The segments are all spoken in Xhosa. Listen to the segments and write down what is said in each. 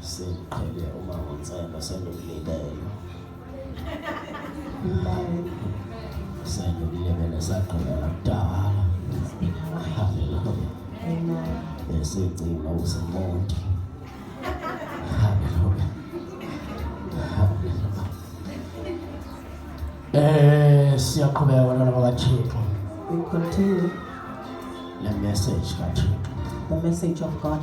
Siqhele uma ngonsela sendokulindele. Sendokulindele sagqela kudala. Hallelujah. Esigcina usemonti. Hallelujah. Hallelujah. Eh siyaqhubeka abantwana bakaThixo. We continue. Le message kaThixo. The message of God.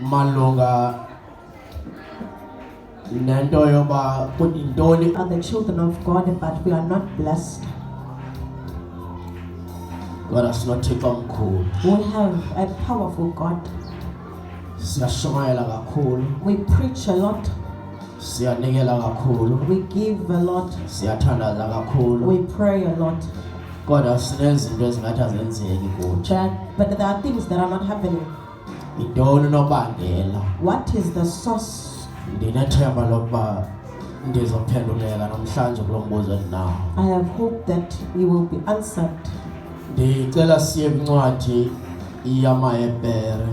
malunga nento yoba kuyintoni are the children of God, but we are not blessed. kodwa sinothixo omkhulu We have a powerful God. siyashumayela kakhulu We preach a lot, siyanikela kakhulu we give a lot, siyathandaza we kakhulu pray a lot. kodwa sinezinto ezingathi azenzeki kuthi But, but there are things that are not happening. Yintoni unobangela? What is the source? Ndinethemba lokuba ndizophenduleka namhlanje kulo mbuzo endinawo. I have hope that we will be answered. Ndicela siye kwincwadi yamaHebhere.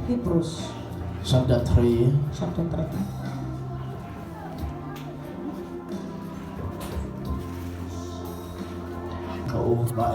Hebrews. Chapter 3. Chapter 3. Over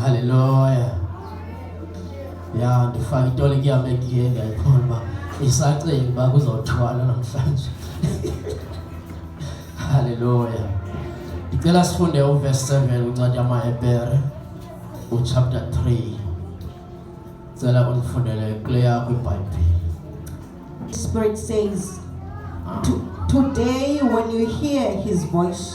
Haleluya. Ya ndifake itole kuyam egiye ndiyayibona uba isacinga uba kuzothwala namhlanje. Haleluya. Ndicela sifunde uverse 7 uncwadi yamaHebhere uchapter 3. Cela undifundele kule yakho iBhayibhile. Spirit says, ah. Today when you hear his voice,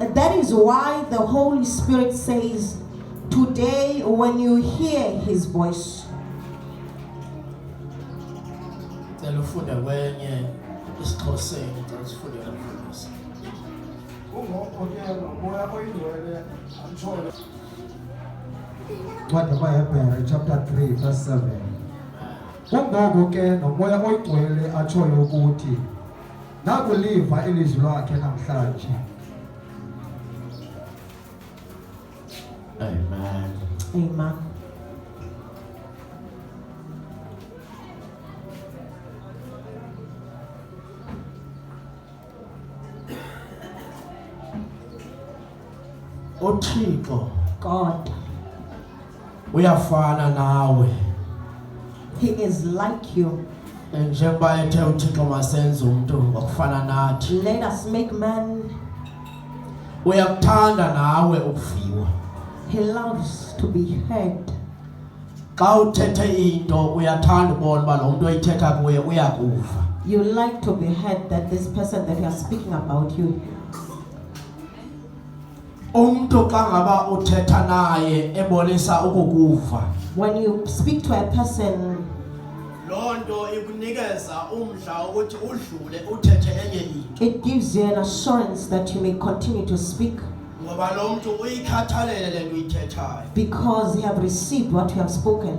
And that is why the Holy Spirit says, Today, when you hear his voice, What about Hebrew chapter 3, verse 7? Kungoko ke nomoya oyigcwele atshoyo ukuthi Nakuliva ilizwi lwakhe namhlanje. Amen. Amen. uthixo God, uyafana nawe He is like you. njengoba ethe uthixo masenze umntu ngokufana nathi Let us make man. uyakuthanda nawe ukuviwa He loves to be heard. xa uthethe into uyathanda ubona uba lo mntu oyithetha kuye uyakuva You like to be heard that this person that you are speaking about you umntu xa ngaba uthetha naye ebonisa ukukuva when you speak to a person loo nto ikunikeza umdla wokuthi udlule uthethe enye into it gives you an assurance that you may continue to speak ngoba lo mntu uyikhathalele le nto uyithethayo because you have received what you have spoken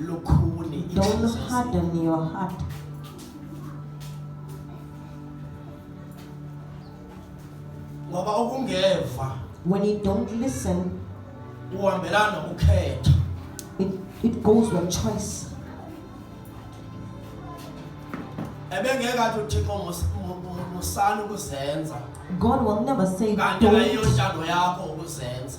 lukhuni Don't harden your heart. ngoba ukungeva When you don't listen, uhambelana nokukhetha it, it goes with choice. ebengeke athi uthixo mus- mu- mu- musani ukuzenza God will never say kanti don't. ayiyonjalo yakho ukuzenza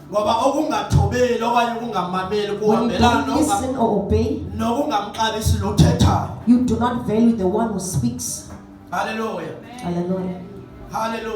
ngoba okungathobeli okanye ukungamameli kuhambelana nokungamxabisi lothethayo you do not value the one who speaks hallelujah hallelujah hallelujah